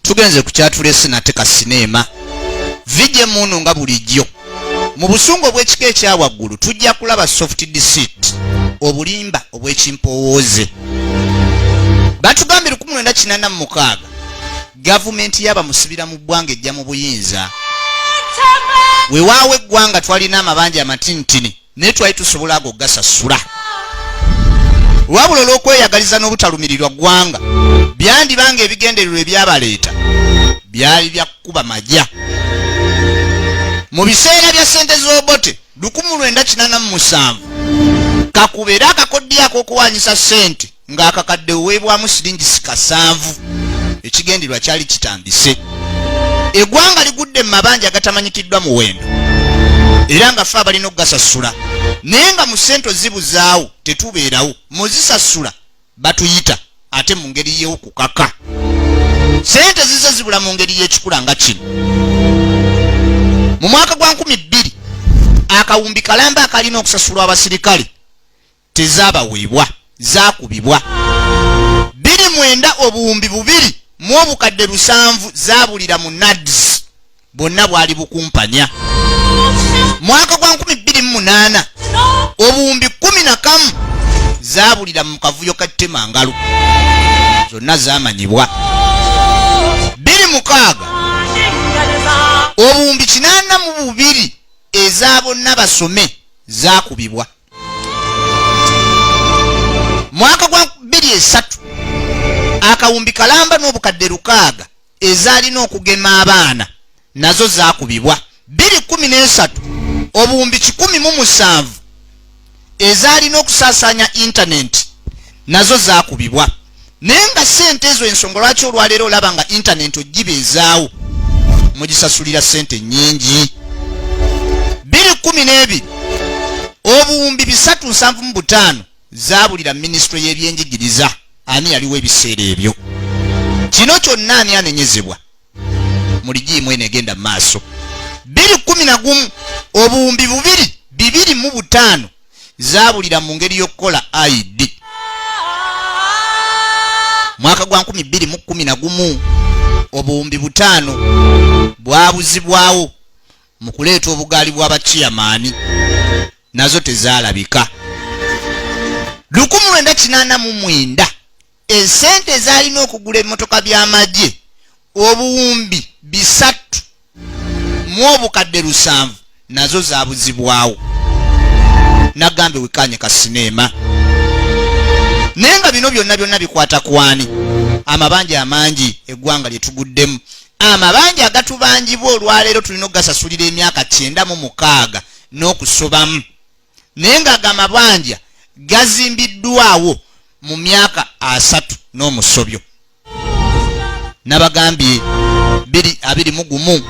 tugenze ku kyatulese nate ka sineema vije munu nga bulijjo mu busungu obw'ekika ekya waggulu tujja kulaba soft deceit obulimba obw'ekimpowooze batugambye 1986 gavumenti yabamusibira mu ggwanga ejja mu buyinza wewaawo eggwanga twalina amabanja amatintini naye twali tusobola ago gasasula wabula olw'okweyagaliza n'obutalumirirwa ggwanga byandibanga ebigendererwa ebyabaleeta byali bya kukuba magya mu biseera bya ssente z'obote 1987 kakube era akakoddiyo ak'okuwaanyisa ssente ng'akakadde oweebwamu siringisi kasanvu ekigendererwa kyali kitandise egwanga ligudde mu mabanja agatamanyikiddwa muwendo era nga fe abalina okugasasula naye nga mu sente zibuzaawo tetubeerawo muzisasula batuyita ate mu ngeri y'okukaka sente zize zibula mu ngeri y'ekikula nga kino mu mwaka gwa nkumi bbiri akawumbi kalamba akalina okusasulwa abasirikale tezabaweebwa zakubibwa biri mwenda obuwumbi bubiri mu obukadde lusanvu zabulira mu nads bwonna bwali bukumpanya mwaka gwa 228 obuwumbi 11 zabulira mu kavuyo ka temangalo zonna zamanyibwa biri mukaaga obuwumbi kinana mu bubiri eza bonna basome zakubibwa mwaka gwa bbiri esatu akawumbi kalamba n'obukadde lukaaga ezaalina okugema abaana nazo zaakubibwa bbiri kumi n'esatu obuwumbi kikumi mu musanvu ezaalina okusaasaanya intanenti nazo zaakubibwa naye nga sente ezo ensonga lwaki olwaleero olaba nga intanenti ogibeezaawo mugisasulira sente nyingi biri kumi n'ebiri obuwumbi bisatu nsanvu mu butaano zaabulira minisitule y'ebyenjigiriza ani yaliwo ebiseera ebyo kino kyonna ani anenyezebwa muligiimu eno egenda mu maaso biri kumi na gumu obuwumbi bubiri bibiri mu butaano zaabulira mu ngeri y'okukola id mwaka gwa nkumi bbiri mu kumi na gumu obuwumbi butaano bwabuzibwawo mu kuleeta obugaali bw'abakiyamaani nazo tezaalabika lukumi lwenda kinaana mu mwenda esente ezalina okugula emotoka by'amagye obuwumbi bisatu mu obukadde lusanvu nazo zabuzibwawo nagambe wekanye ka sineema naye nga bino byonna byonna bikwata kwani amabanja amangi eggwanga lye tuguddemu amabanja agatubanjibwa olwaleero tulina okugasasulira emyaka kyenda mu mukaaga n'okusobamu naye nga ga mabanja gazimbiddwawo mu myaka asatu n'omusobyo nabagambye biri abiri mu gumu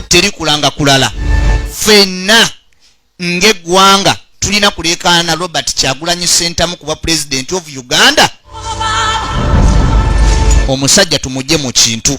teri kulanga kulala fenna ng'eggwanga tulina kuleekaana robert kyagulanyi sentamu kuba pulezidenti of uganda omusajja tumugye mu kintu